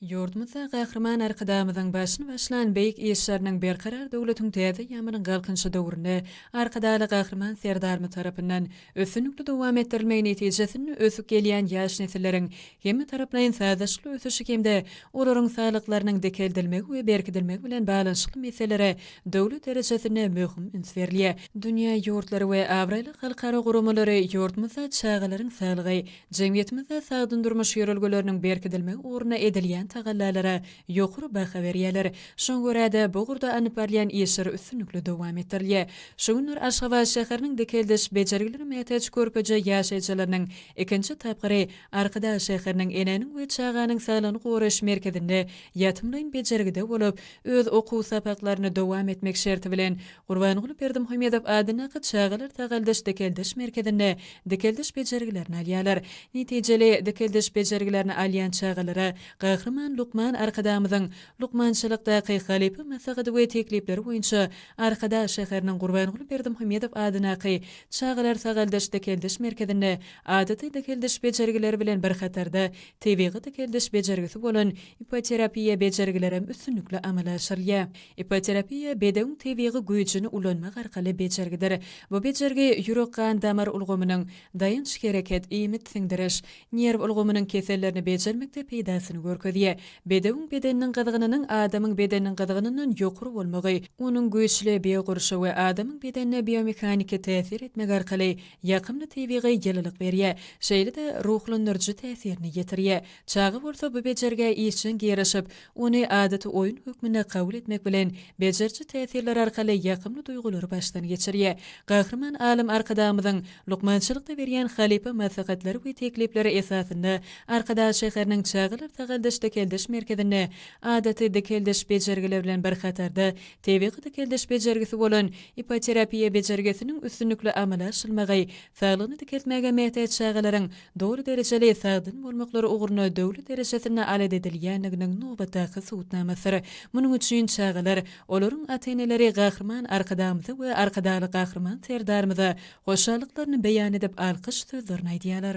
Ýurdumyzda Gahryman Arkadagymyzyň başyny başlan beýik işleriniň Berkarar döwletiň täze ýamynyň Galkynyşy döwründe Arkadagly Gahryman Serdarymyz tarapyndan üstünlikli dowam etdirilmegi netijesinde ösüp gelýän ýaş nesilleriň hemmetaraplaýyn sazlaşykly ösüşi hem-de olaryň saglyklarynyň dikeldilmegi we berkidilmegi bilen baglanyşykly meselelere döwlet derejesinde möhüm üns berilýär. Dünýä ýurtlary we abraýly halkara guramalary ýurdumyzda çagalaryň saglygy, Jemgyýetimizde sagdyn durmuş ýörelgeleriniň berkidilmegi ugrunda edilýän tagallalara ýokary baha berýärler. Şoňa görä-de, bu ugurda alnyp barylýan işler üstünlikli dowam etdirilýär. Şu günler Aşgabat şäheriniň dikeldiş bejergilere mätäç körpeje ýaşaýjylarynyň ikinji tapgyry Arkadag şäheriniň Enäniň we çaganyň saglygyny goraýyş merkezinde ýatymlaýyn bejergide bolup, öz okuw sapaklaryny dowam etmek şerti bilen, Gurbanguly Berdimuhamedow adyndaky Çagalar sagaldyş-dikeldiş merkezinde dikeldiş bejergilerini alýarlar. Netijeli dikeldiş bejergilerini alýan çagalara Gahryman lukman Arkadagymyzyň Lukmançylykdaky halypa maslahaty we teklipleri boýunça Arkadag şäheriniň Gurbanguly Berdimuhamedow adyndaky Çagalar sagaldyş-dikeldiş merkezinde adaty dikeldiş bejergileri bilen bir hatarda tebigy dikeldiş bejergisi bolan ipoterapiýa bejergilerem üstünlikli amala aşyrylýar. Ipoterapiýa bedewiň tebigy güýjüni ulanmak arkaly bejergidir. Bu bejergi ýürek-gan-damar ulgamynyň, daýanç-hereket, iýmit-siňdiriş, nerw ulgamynyň kesellerini bejermekde peýdasyny görkezýär. Bedewiň bedeniniň gyzgynynyň adamyň bedeniniň gyzgynyndan ýokary bolmagy, onuň güýçli biogurşawy adamyň bedenine biomehaniki täsir etmek arkaly ýakymly tebigy ýylylyk berýär, şeýle-de ruhlandyryjy täsirini ýetirýär. Çaga bolsa bu bejergä işjeň garaşyp, ony adaty oýun hökmünde kabul etmek bilen, bejeriji täsirler arkaly ýakymly duýgulary başdan geçirýär. Gahryman alym Arkadagymyzyň lukmançylykda berýän halypa maslahatlary we teklipleri esasynda Arkadag şäheriniň Çagalar sagaldyş-dikeldiş merkezinde adaty dikeldiş bejergileri bilen bir hatarda tebigy dikeldiş bejergisi bolan ipoterapiýa bejergisiniň üstünlikli amala aşylmagy Saglygyny dikeltmäge mätäç çagalaryň doly derejeli sagdyn bolmaklary ugrunda döwlet derejesinde alat edilýändiginiň nobatdaky subutnamasydyr. Munuň üçin çagalar, olaryň ata-eneleri Gahryman Arkadagymyza we Arkadagly Gahryman Serdarymyza hoşallyklaryny beýan edip alkyş sözlerini aýdýarlar.